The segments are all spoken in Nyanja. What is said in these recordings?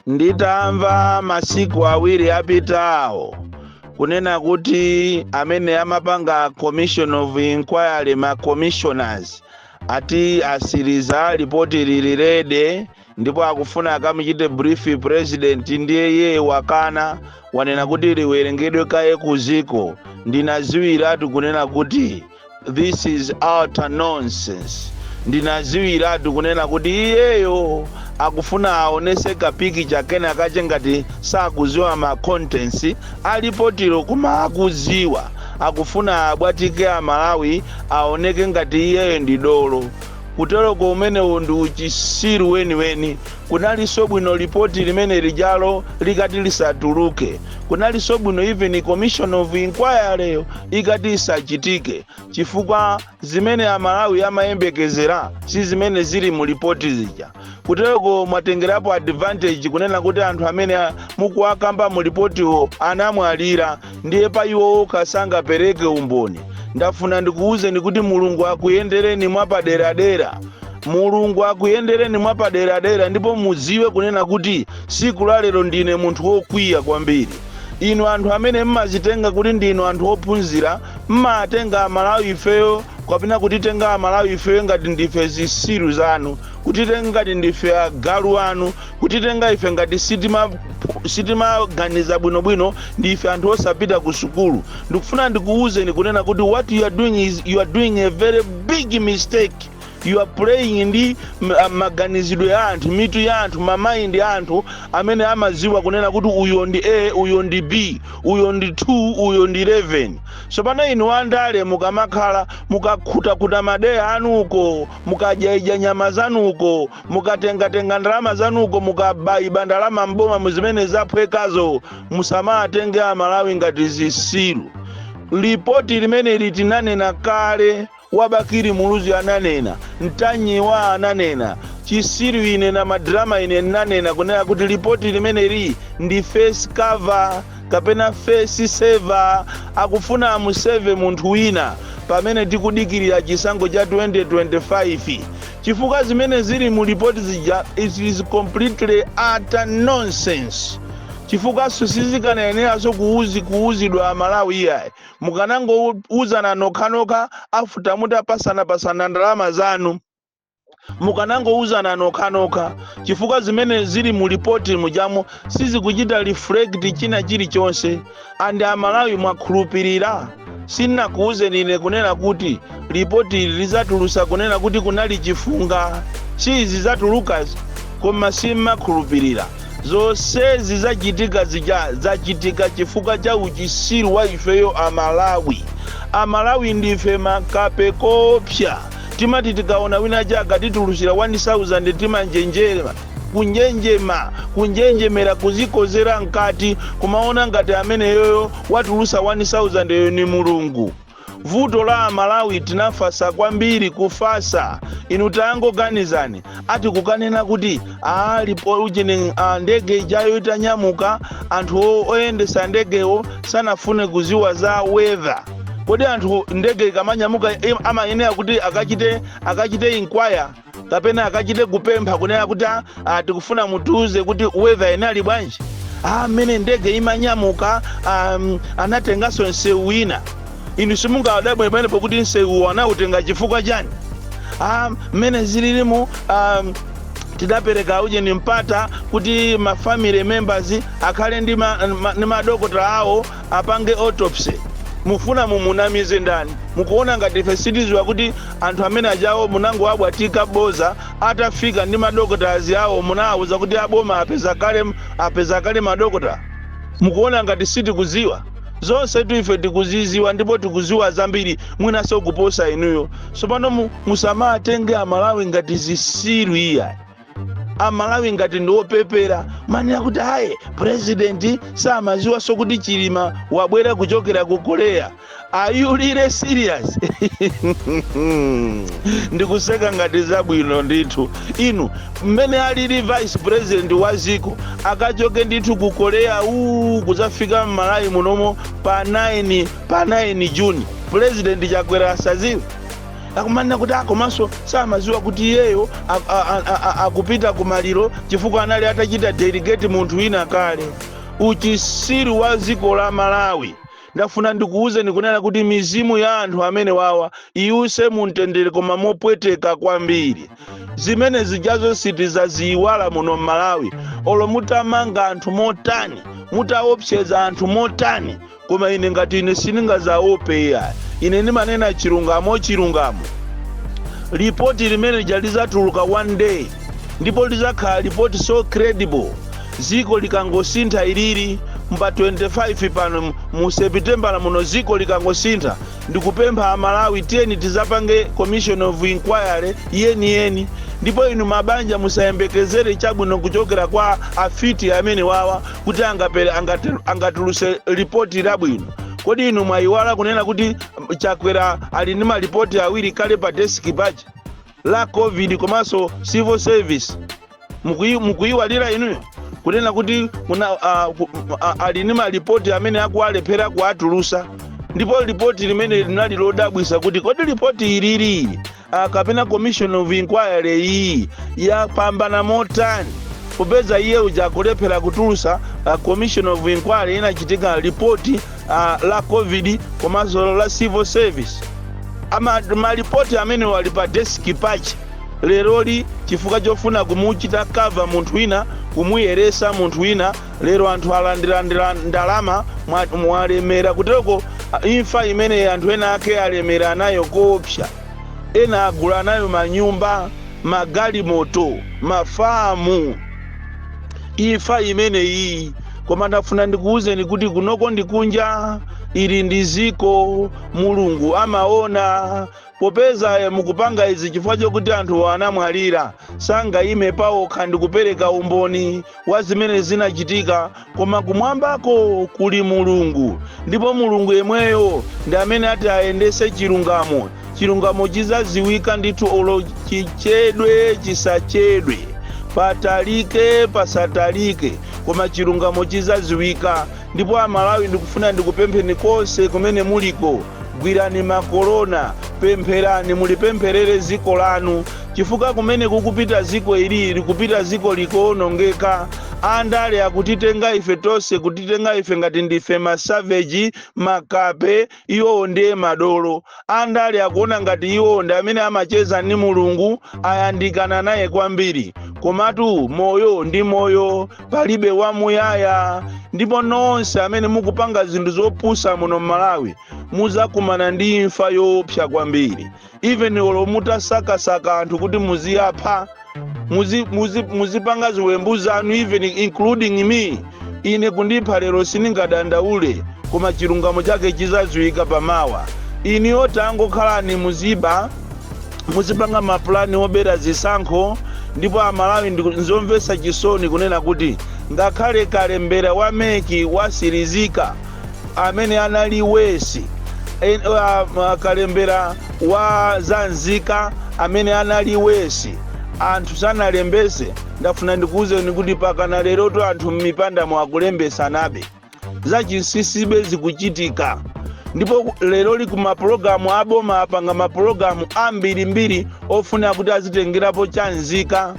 nditamva masiku awiri apitawo kunena kuti amene amapanga commission of inquiry ma commissioners ati asiriza lipoti lili ready ndipo akufuna akamuchite brief president ndiye iye wakana wanena kuti liwerengedwe kaye ku dziko ndinaziwiratu kunena kuti this is utter nonsense ndinaziwiratu kunena kuti iyeyo akufuna aonese kapikicha kena kache ngati sakuziwa ma contents a lipotilo koma akuziwa akufuna abwatike amalawi aoneke ngati iyeyo ndi dolo kuteroko umenewo ndi uchisiru weniweni kunalinso bwino lipoti limene lijalo likati lisatuluke Kunalinso bwino even commission of inquiry yo ikati isachitike chifukwa zimene amalawi amayembekezera si zimene zili mu lipoti zija kutereko mwatengerapo advantage kunena kuti anthu amene mukuwakamba mu lipotiwo anamwalira ndiye pa iwo okha sangapereke umboni ndafuna ndikuwuzeni kuti mulungu akuyendereni mwapaderadera Mulungu akuyendereni mwapaderadera ndipo muziwe kunena kuti siku la lero ndine munthu wokwiya kwambiri. Inu anthu amene mmazitenga kuti ndinu anthu ophunzira mmatenga amalawi ifeyo kapena kutitenga amalawi ifeyo ngati ndife zisiru zanu, kutitenga ngati ndife agalu anu, kutitenga ife ngati sitimaganiza bwino bwino ndife anthu osapita ku sukulu. Ndikufuna ndikuuzeni kunena kuti what you are doing is you are doing a very big mistake. you are playing ndi maganizidwe ya anthu mitu ya anthu mamaindi a anthu amene amaziwa kunena kuti uyo ndi a uyo ndi b uyo ndi 2 uyo ndi 11 tsopano inu andale mukamakhala mukakhutakuta madeya anuko mukadyaidya nyama zanuko mukatengatenga ndalama zanuko mukabayiba ndalama mboma mu zimene zaphwekazo musamatenge amalawi ngati zisilu lipoti limeneli tinanena kale Wa Bakili Muluzi ananena, Ntanyiwa ananena, chisiru ine na ma drama ine nnanena kunena kuti lipoti limeneli ndi face cover kapena face saver akufuna amu save munthu wina pamene tikudikilira chisankho cha 2025 chifukwa zimene zili mu lipoti zija it is completely utter nonsense chifukwaso sizikanayeneranso kuuzi kuuzidwa amalawi iyayi mukanangouzana nokhanokha after mutapasanapasana ndalama zanu mukanangouzana nokhanokha chifukwa zimene zili mu lipoti mujamo sizikuchita reflect china chilichonse and amalawi mwakhulupirira sinakuuzeni ine kunena kuti lipotili lizatulusa kunena kuti kunali chifunga si izi zatulukazi koma simmakhulupirira zonsezi zachitika zija zachitika chifukwa cha uchisiru wa ifeyo amalawi amalawi ndife makape koopsa timati tikaona wina aja akatitulusira 1000 timanjenjema kunjenjema kunjenjemera kuzikozera mkati kumaona ngati ameneyoyo watulusa 1000 yo ni mulungu vuto la amalawi tinafasa kwambiri kufasa inu tangoganizani ati kukanena kuti aa alipo ujeni ndege ijayo itanyamuka anthu o- oyendesa ndegewo sanafune kuziwa za weather kodi anthu ndege ikamanyamuka im- amayenera kuti akachite akachite inquire kapena akachite kupempha kunena kuti "Ah, ah, tikufuna mutiuze kuti weather inali bwanji mmene ndege imanyamuka um, anatenganso msewu wina inu simungawadabwe pamenepo kuti msewuwo anautenga chifukwa chani Ah, mmene zililimu um, tidapereka ujeni mpata kuti ma family members akhale ndi ma- ma- ndi madokotala awo apange autopsy mufuna mumunamize ndani mukuona ngati ife sitiziwa kuti Anthu amene ajawo munangowabwatika boza atafika ndi madokotala awo munawauza kuti aboma apeza kale madokotala? Mukuona ngati sitikuziwa? Zonsetu ife tikuziziwa ndipo tikuziwa zambiri mwinaso kuposa inuyo. Tsopano mu, musamatenge amalawi ngati zisiru iyayi. amalawi ngati ndi opepera manena kuti ayi purezidenti samaziwanso kuti chilima wabwera kuchokera ku korea are you really serious ndikuseka ngati zabwino ndithu inu mmene alili vice president wa ziko akachoke ndithu ku korea uu kuzafika mmalawi munomo pa 9 pa 9 juni purezidenti chakwera asaziwe akumanena kuti aa komanso samaziwa kuti iyeyo akupita ku maliro chifukwa anali atachita delegate munthu wina kale uchisiru wa dziko la malawi ndafuna ndikuwuzeni kunena kuti mizimu ya anthu amene wawa iwuse mumtendere koma mopweteka kwambiri zimene zijazo sitizaziyiwala muno mmalawi olo mutamanga anthu motani mutaopseza anthu motani Koma ine, ngati ine sindingadzawope iyayi, ine ndimanena chilungamo, chilungamo. Lipoti limene lija lidzatuluka one day, ndipo lidzakhala lipoti so credible. Dziko likangosintha iliri, mu pa 25 pano mu- mu Sepitembala muno, dziko likangosintha, ndikupempha Amalawi, tiyeni tidzapange commission of inquiry yeniyeni. Ndipo inu mabanja musayembekezere chabwino kuchokera kwa afiti amene wawa, kuti angapele angate- angatuluse lipoti labwino kodi inu mwayiwala kunena kuti mm, chakwera ali ndi malipoti awiri kale pa desiki pache la covid komanso civil service Mukuyi- mukuyiwaliranji inuyo kunena kuti kuna, uh, ku, uh, ali ndi malipoti amene akuwalephera kuwatulusa ndipo lipoti limene linali lodabwisa kuti kodi lipoti ilili uh, kapena commission of inquiry iyi yapambana motani popeza iye uja akulephera kutulusa uh, commission of inquiry inachitika lipoti uh, la covid komanso la civil service ama malipoti amene ali pa deski pache leroli chifukwa chofuna kumuchita cover munthu wina kumuyeresa munthu wina Lero anthu alandira ndila, ndalama mwa, mwalemera kutereko a, imfa imene anthu ena ake alemera nayo koopsa. Ena agula nayo manyumba, magalimoto, mafamu. Imfa imeneyi. Koma ndafuna ndikuwuzeni kuti kunoko ndi kunja, ili ndi dziko, Mulungu amaona, Popeza mukupanga izi chifukwa chokuti anthuwo anamwalira, sangayime paokha ndi kupereka umboni wa zimene zinachitika, koma kumwambako kuli Mulungu, ndipo Mulungu yemweyo ndi amene ati ayendetse chilungamo. Chilungamo chidzadziwika ndithu olo chichedwe chisachedwe, patalike pasatalike, koma chilungamo chidzadziwika. Ndipo a Malawi ndikufuna ndikupempheni konse kumene muliko gwirani makolona pempherani mulipempherere ziko lanu chifukwa kumene kukupita ziko ili likupita ziko likuonongeka andale akutitenga ife tonse kutitenga ife ngati ndife masavage makape iwowo ndiye madolo andale akuona ngati iwowo ndi amene amacheza ndi mulungu ayandikana naye kwambiri komatu moyo ndi moyo palibe wamuyaya ndipo nonse amene mukupanga zinthu zopusa muno m'malawi muzakumana ndi imfa yoopsa kwambiri even olo mutasakasaka anthu kuti muziwapha muzi- muzi- muzipanga ziwembu zanu even including me ine kundipha lero sindingadandaule koma chilungamo chake chizadziwika pamawa inuyo tangokhalani muziba muzipanga mapulani obera zisankho ndipo amalawi ndi- nzomvetsa chisoni kunena kuti ngakhale kalembera wa MEC watsirizika amene anali wesi en- wa- ma- kalembera wa za nzika amene anali wesi anthu sanalembese ndafuna ndikuwuzeni kuti mpakana lerotu anthu m'mipandamo akulembetsanabe zachinsinsibe zikuchitika ndipo lero lino mapulogalamu aboma apanga mapulogalamu ambirimbiri ofuna kuti azitengerapo cha nzika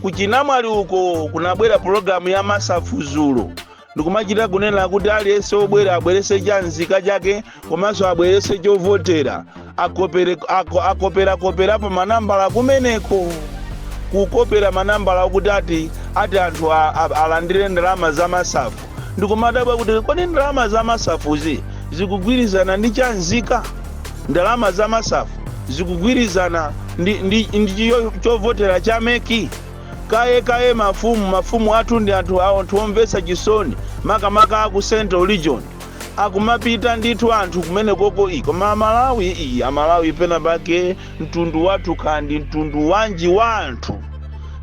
kuchinamwali uko kunabwera pulogalamu ya masafu dzulo ndikumachita kunena kuti aliyense obwera abweretse cha nzika chake komanso abweretse chovotera akopere- ako- akoperakoperapo manambala kumeneko kukopera manambala okuti ati ati anthu a- a- alandire ndalama za masafu ndikumadabwa kuti kodi ndalama za masafuzi zikugwirizana ndi cha nzika ndalama za masafu zikugwirizana ndi, ndi, ndi cho- chovotera cha meki Kaye kaye mafumu, mafumu athu ndi anthu awo ndithu omvetsa chisoni makamaka aku central region akumapita ndithu anthu kumenekoko ii koma amalawi ii amalawi pena pake mtundu wathu kaya ndi mtundu wanji wa anthu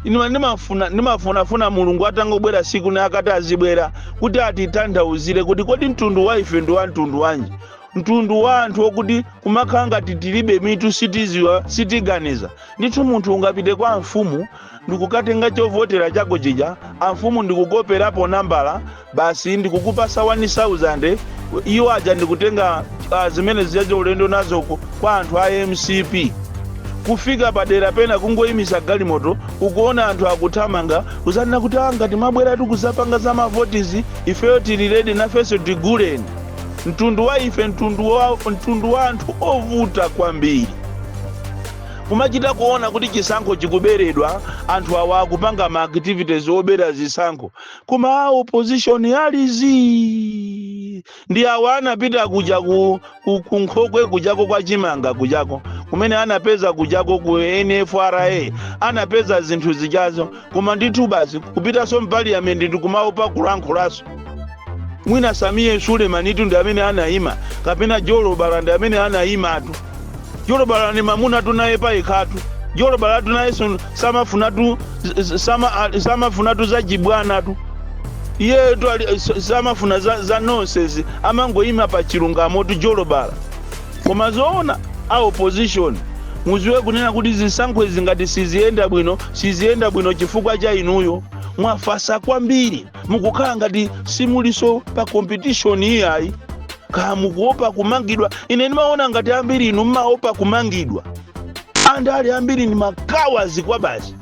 ine ndimafuna ndimafunafuna mulungu atangobwera tsiku lina akati azibwera kuti atitanthauzire kuti kodi mtundu wa ife ndi wa mtundu wanji mtundu wa anthu okuti kumakhala ngati tilibe mitu sitidziwa sitiganiza Ndithu munthu ungapite kwa amfumu ndikukatenga chovotera chako chija amfumu ndikukoperapo nambala basi ndikukupatsa 1000 iwo aja ndikutenga uh, zimene zijaja ulendo nazo ku- kwa anthu a mcp kufika padera pena kungoyimisa galimoto ukuona anthu akuthamanga kudzanena kuti "Ah, ngati mwabweratu kudzapanga za mavotizi ifeyo tili ready nafenso tiguleni mtundu wa ife mtundu wa, mtundu wa anthu ovuta kwambiri kumachita kuona kuti chisankho chikuberedwa anthu awa akupanga ma activities obera zisankho koma a opposition ali zii ndi awa anapita kuja ku, ku, ku nkhokwe kujako kwa chimanga kujako kumene anapeza kujako ku nfra anapeza zinthu zijazo koma ndithu basi kupitanso mpaliyamenti ndikumaopa kulankhulanso mwina sameer sulemanitu ndi amene anayima kapena jolobala ndi amene anayimatu jolobala ndi mamunatu naye payekhatu jolobalatu nayenso samafunatu sama, samafunatu za jibwanatu iyeyotu ali- s- samafuna za, za nonsense amangoyima pa chilungamotu jolobala koma zoona a opposition mudziwe kunena kuti zisankho izi ngati siziyenda bwino Siziyenda bwino chifukwa cha inuyo. Mwafasa kwambiri. Mukukhala ngati simulinso pa competition iyayi. Kaya mukuopa kumangidwa. Ine ndimaona ngati ambiri inu mmaopa kumangidwa. Andale ambiri ndi makawadi kwabasi.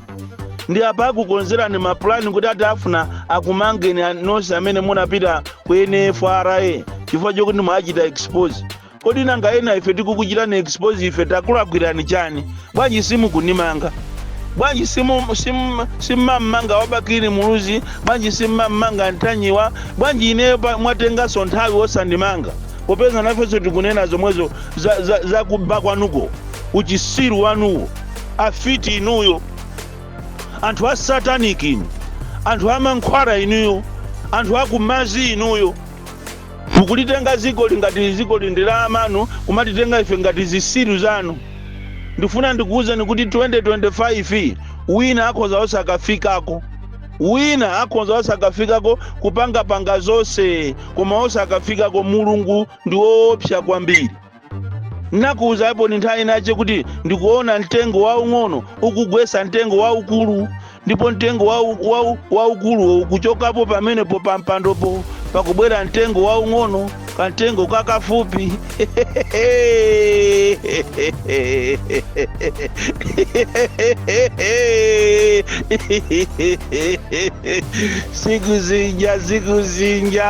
Ndi apa akukonzerani mapulani kuti ati afuna akumangeni a- nonse amene munapita ku NFRA chifukwa chokuti mwachita expose. kodi nanga ena ife tikukuchitani expose ife takulakwirani chani bwanji simukunimanga bwanji simu- sim- simmammanga wa Bakili Muluzi bwanji simmammanga ntanyiwa bwanji ineyo pa- mwatenganso nthawi osandimanga popeza nafenso tikunena zomwezo za- za- zakuba kwanuko uchisiru wanuwo afiti inuyo anthu a satanic inu anthu a mankhwala inuyo anthu a kumadzi inuyo Mukulitenga dzikoli ngati dzikoli ndi la amanu kumatitenga ife ngati zisiru zanu ndifuna ndikuuzeni kuti 2025 wina akhoza osakafikako wina akhonza osakafikako kupanga panga zose koma osakafikako mulungu ndi oopsa kwambiri. ndinakuuzaniponi nthawi inayake kuti ndikuona mtengo waung'ono ukugwesa mtengo waukulu ndipo mtengo wau- wau- waukuluwo ukuchokapo pamenepo pa mpandopo pakubwera mtengo waung'ono kamtengo kakafupi siku zinja siku zinja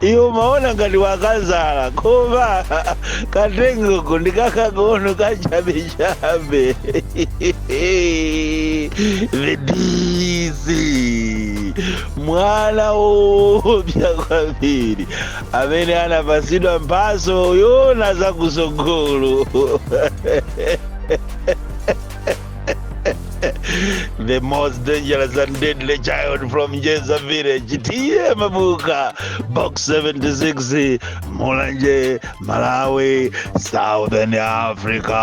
iwe umaona ngati wakazala koma kamtengoko ndi kakang'ono kachabechabe the dc mwana woopsa kwambiri amene anapasidwa mphaso yoona zakusogolo the most dangerous and deadly child from Jeza village tiye mabuka box 76 mulanje malawi southern africa